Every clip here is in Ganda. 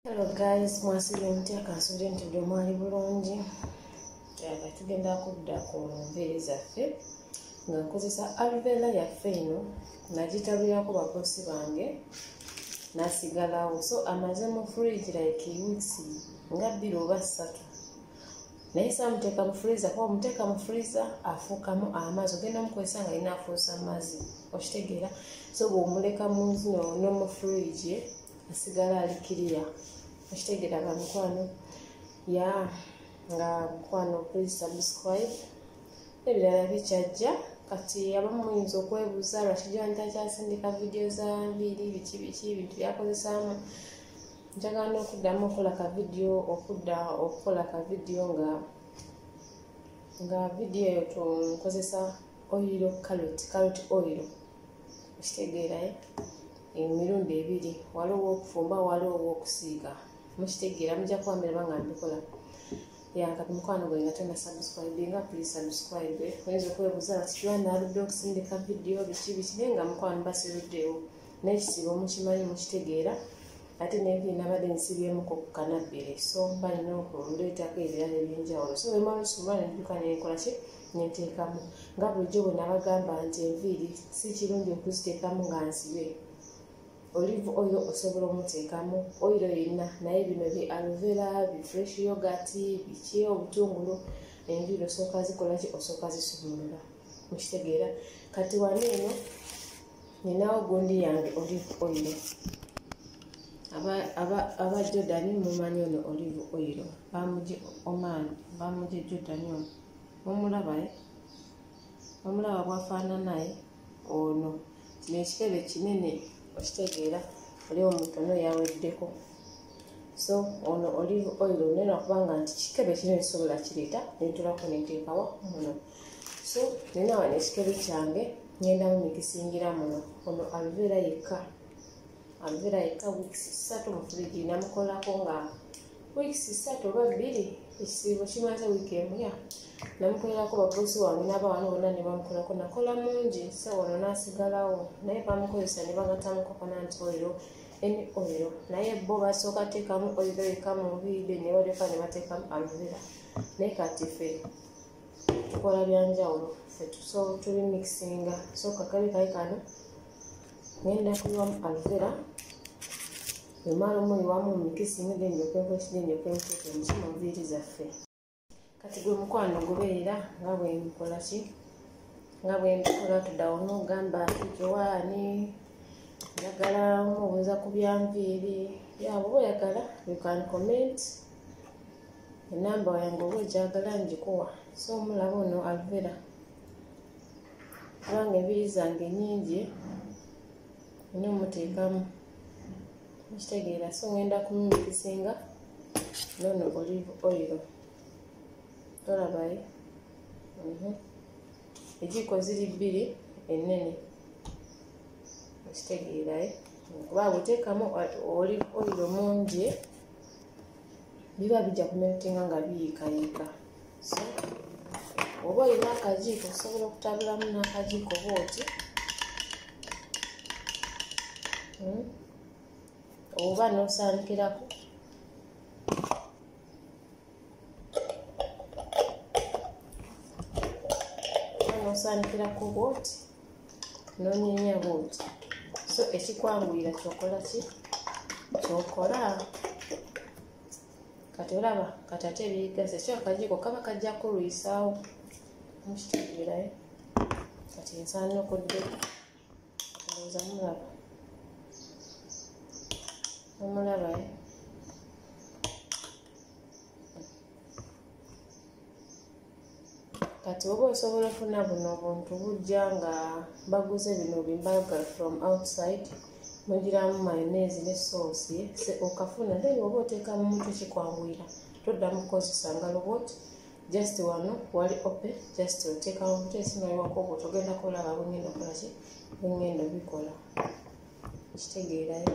Hello guys, mwasibye emutya kansubire nti buli omu ali bulungi nga tugenda kudda ku nviiri zaffe nga nkozesa alvela yaffe eno nagitabirako bakosi bange nasigalawo so amaze mu fridge like weeks nga bbiri oba ssatu naye samuteeka mu freezer kuba omuteeka mu freezer afuukamu amazzi ogenda mukozesa nga yina afuusa amazzi okitegeera so bwomuleka muzino nomu fridge asigala ali kiriya okitegera ba mukwano ya nga mukwano please subscribe ebirala bikyajja kati abamu muyinza okwebuuza lwaki joni takyasindika vidiyo za nviiri biki biki ebintu byakozesaamu njagala n'okuddamu okukola ka vidiyo okudda okukola ka vidiyo nga nga vidiyo eyo tunkozesa oyiro kaloti kaloti oyiro okitegeerayo eh? emirundi ebiri waliwo owokufumba waliwo owokusiiga mukitegeera mujja kuba miraba nga mbikola yankati mukwano gwe nga tona subscribe nga please subscribe oyinza okwebuuza bati kiwana aludde okusindika vidiyo biki biki naye nga mukwano basiruddeewo nekisiba omukimanyi mukitegeera ate nebi nabadde nsibyemuko ku kanabbere so mba nina okundeetako ebirala ebyenjawulo so wemala osuula nenjuka nenkolaki nenteekamu nga bulijjo bwe nabagamba nti enviiri si kirungi okuziteekamu nga nsibe olive oil osobola omuteekamu oyiro yenna naye bino bi alvera bi fresh yogat biki obutungulu enviiri osooka zikolaki osooka zisumulula mukitegeera kati wano eno ninawo gundi yange olive oil aba jordan mumanyi ono olive oil bamuje oman bamuje jordan ono omulaba eh? omulaba bwafaananaye ono kino ekitebe kinene okitegeera oli omutono yaweddeko so ono olive oil nena kubanga nti kikebe kino ekisobola kireeta nentulako nenteekawa muno so nina wano ekikebe kyange ngenda mumikisingira muno ono aluveera yekka aluveera yekka wiks satu mufuliji namukolako nga weeks ssatu oba bbiri ekisiibo kimaze wiiki emu ya namukolerako babosi wange n'abawana bonna ne bamukolako nakola mungi sa wano n'asigalawo naye bamukozesa ne bagatamu kokonanti oyiro eni oyiro naye bo basooka teekamu oyiro yeka mu biide ne balyoka ne bateekamu aluvera naye kati fe tukola byanjawulo fe tuso tuli mixinga so kakabi kayi kano ngenda kuyiwamu aluvera emala omuyiwamu omikisi ngenda enjoka enkoki genda enjoka enkoki omusoma nviiri zaffe kati gwe mukwano gubeera nga bwenkola ki nga bwenkola tudawo nogamba jowaani njagala omubuuza ku byanviiri yaba oba oyagala you can comment enamba yange oba ogyagala ngikuwa so omulaba ono aluvera kubanga enviiri zange nyingi ina omuteekamu mukitegeera so ngenda kumumikisinga nono olive oil tolabaye mhm. ejiiko ziri bbiri ennene mukitegeeraye kuba bwoteekamu olive oil mungi biba bijja kumerutinga nga biyiikayiika oba olina akajiiko osobola okutabulamu n'akajiiko oba oti hmm? oba n'osaanikirako osaanikira ku bwoti nonyenya bwoti so ekikwanguyira kyokola ki kyokola kati olaba kati ate ebigase so akajiiko kaba kajja kulwisaawo mukitegeerayo kati nsaana okudde ndowooza mulaba omulabayo kati oba osobola ofuna buno buntu bujja nga baguze bino bimbaga from outside mugiramu mayonese ne soosi okafuna then oba oteeka mu mutwe kikwanguyira toddamu kukozesa ngalo bot just wano wali ope just oteeka mu mutwe esimaliwako bot ogenda kulaba bwengenda okolaki bwengenda obikola kitegeerayo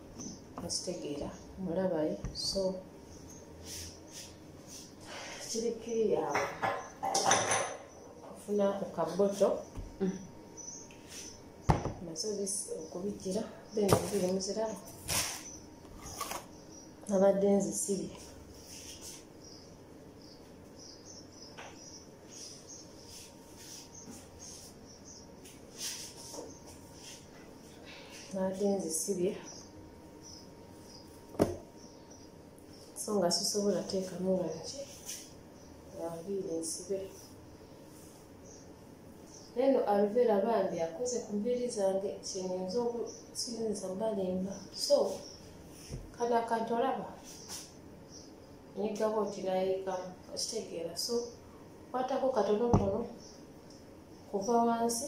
mukitegeera mulabaye so kiri kiri yawe ofuna ku kaboto mm. nazo okubijjira then biri muziraba nabadde nzisibye naate nzisibye so nga sisobola teekamu nga nki ngambiire nsibe neno aluvera bambi akoze ku mbiiri zange kyenyinza okusinza balimba so kano akantu olaba nyigaba oti nayiikamu okitegeera so kwatako katonotono kuva wansi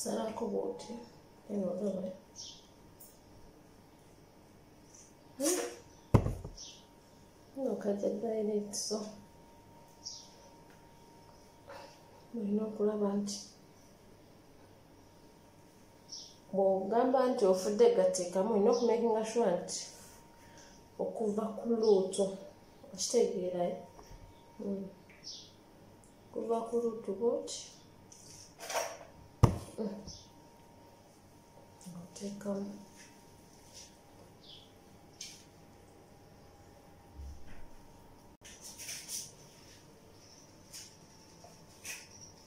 salako bwoti eno olaba nokaja direct so mulina okulaba nti bwogamba nti ofudde gateekamu olina okumakinga sure nti okuva ku luutu okitegeerayo hmm. okuva ku luutu bwoti hmm. oteekamu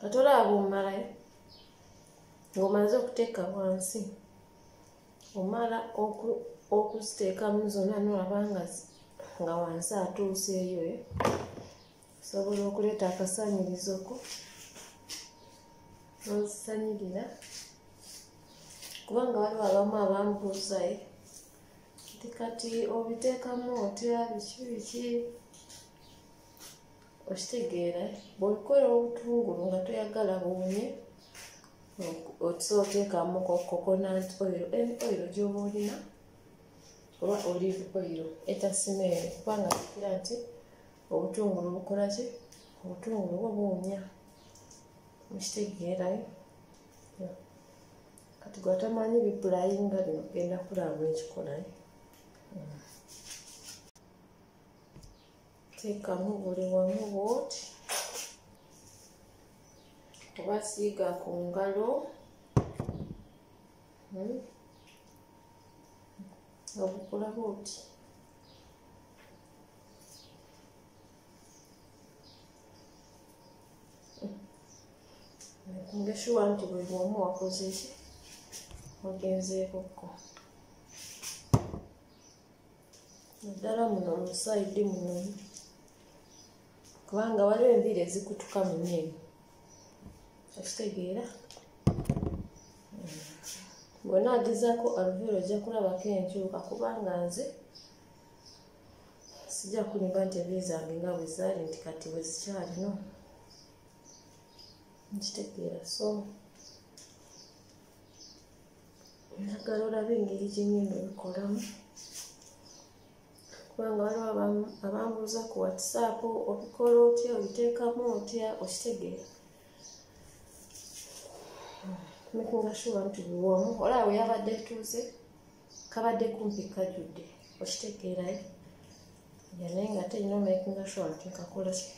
kati olaba omalayo ng'omaze okuteeka wansi omala okuziteekamu zonna nolaba nga wansi atuuseeyo osobola okuleeta akasaanyirizo ko nozisanyirira kubanga waliwo abamu abambuuzaye nti kati obiteekamu otya biki biki okitegeera bwebikola obutungulu nga toyagala buwunye otuse oteekamu coconut oil en oil gyoba olina oba olive oil etasimee kubanga kikira nti obutungulu bukola ki obutungulu bwo buwunya mukitegeerayo kati gwatamanyi bipulayinga bino genda kulaba ekikolayo hmm. teekamu buli wamu bwoti oba siiga ku ngalo hmm. obukula bwoti ngeshuwa nti buli omu wakoze ki wagenzeekokko naddala muno musaidi muno kubanga waliwo enviiri ezikutuka mu nyeeni okitegeera bwona agezako aluvera ojja kulabako enkyuka kubanga nze sijja kulimba nti ebi zange nga bwe zaali nti kati bwe zikyalino nkitegeera so njagala olaba engeri gyenyini ebikolamu kubanga waliwo abambuuza ku whatsapp obikola otya obiteekamu otya okitegeera making sure nti biwomu olaba weyabadde etuuze kabadde kumpi kajudde okitegeerayo yanaye nga ate nyina omakinga sure nti nkakola ki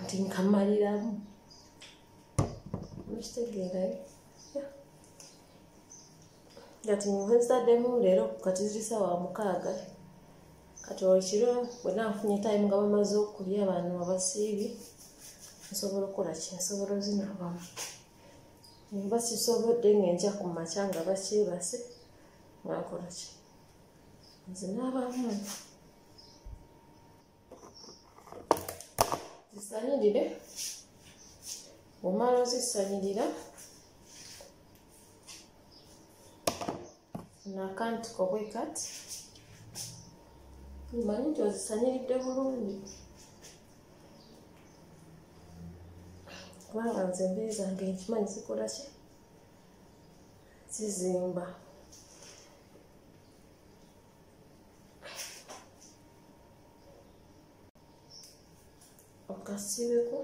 nti nkamaliramu okitegeerayo kati nzitaddemu leero kati zirisa wa mukaaga kati olwekiro bwena nfunye time nga bamaze okulya abantu abasiibi nsobola okukola ki nsobola ozinabamu nemba sisobodde ngenja ku makya nga bakyebase nakola ki nze n'abamu zisanyirire omala ozisanyirira nakantiko bwe kati omanyi nti ozisanyiridde bulungi kubanga nze embeere zange nkimanyi zikola ki zizimba okasiibeko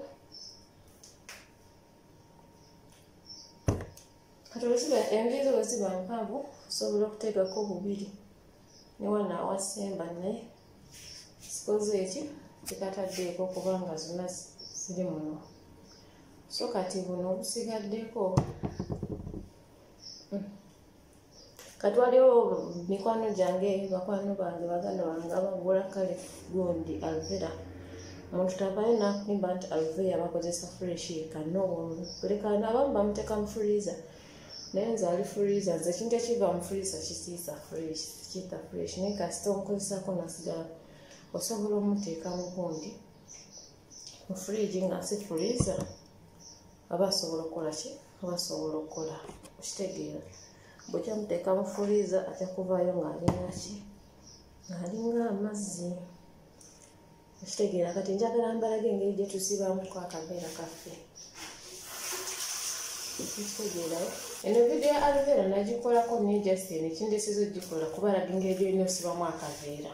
kati olusiba enviiri zo bweziba mpanvu osobola okuteekako bubiri ne wano awasemba naye sikoze eki tekataddeeko kubanga zonna ziri muno so kati buno obusigaddeko kati waliwo mikwano gyange bakwano bange baganda bange abagula kale gundi alvera muntu tavayo nakulimba nti alvera bakozesa freshi kano kulekana abamu bamuteka mu freezer naye nze ali freezer nze ekintu ekiva mu freezer kisiisa fresh kita fresh naye kasita omukozesako nasigala osobola omuteeka mu gundi mu fridge nga si freezer aba asobola okukola ki aba asobola okukola okitegeera bwekya muteeka mu furiiza ajja kuvaayo ng'alinaki ng'alinga amazzi ekitegeera kati njagala mbalaga engeri gye tusibamuko akaveera kaffe ekitegeerayo eno vidiyo ya alveera nagikolako naye justin ekindesiza ogikola kubalaga engeri gyolina osibamu akaveera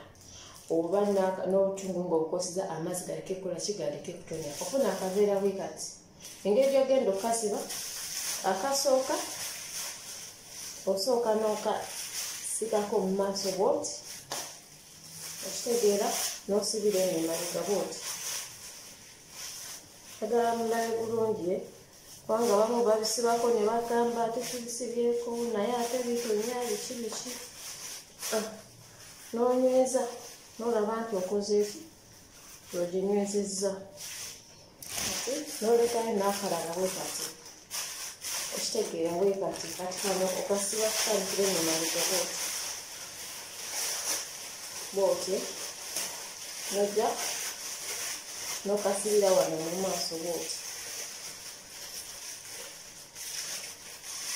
oba n'obutungu ng'obukosiza amazzi galeke kukola kigaleke kutonya ofuna akaveera bwe kati engeri gyogenda okukasiba akasooka osooka n'okasigako mu maaso bwoti okitegeera n'osibira eno emabega bwoti agala mulabe bulungi eh? kubanga bamu babisibako ne bagamba tekibisibyeko naye ate bitonya biki biki ah, nonyweza nolaba nti okozeeki oginywezezza kati nolekayo nakalala bwe kati okitegeera bwe kati kati kano okasiba kukalikire mu maliga bwoti bwoti nojja nokasibira wano mu maaso bwoti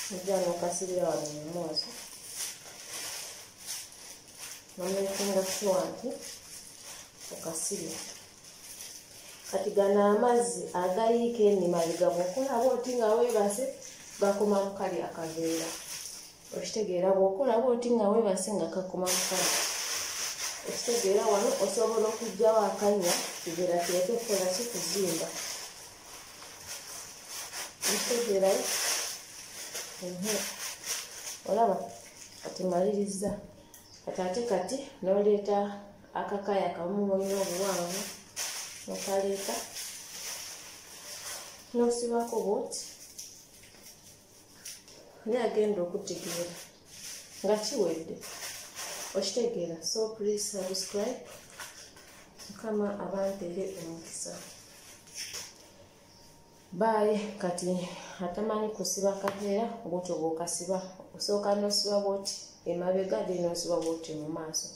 nojja nokasibira wano mu maaso nomekinga sure nti okasibye kati gano amazzi agayiika enima bigabo okola bwoti nga webase gakoma mukali akaveera okitegeera bwokola bwoti nga webase nga kakoma mukali okitegeera wano osobola okugjawo akanya kivera kireke kukola ki kuzimba okitegeerayo olaba kati malirizza kati ate kati noleeta akakaya kamu olina obuwanvu nokaleeta nosibako bwoti naye agenda okutegeera nga kiwedde okitegeera so please subscribe mukama abantere omukisa baayi kati atamanyi kusiba kaveera bwotyo bwokasiba osooka nosiba bwoti emabega de nosiba bwoti mu maaso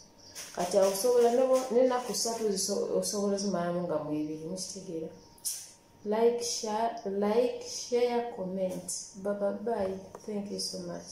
kati awo osobola nenaku satu osobola ozimalamu nga mwebiri mukitegeera like share, like share comment baba bye thank you so much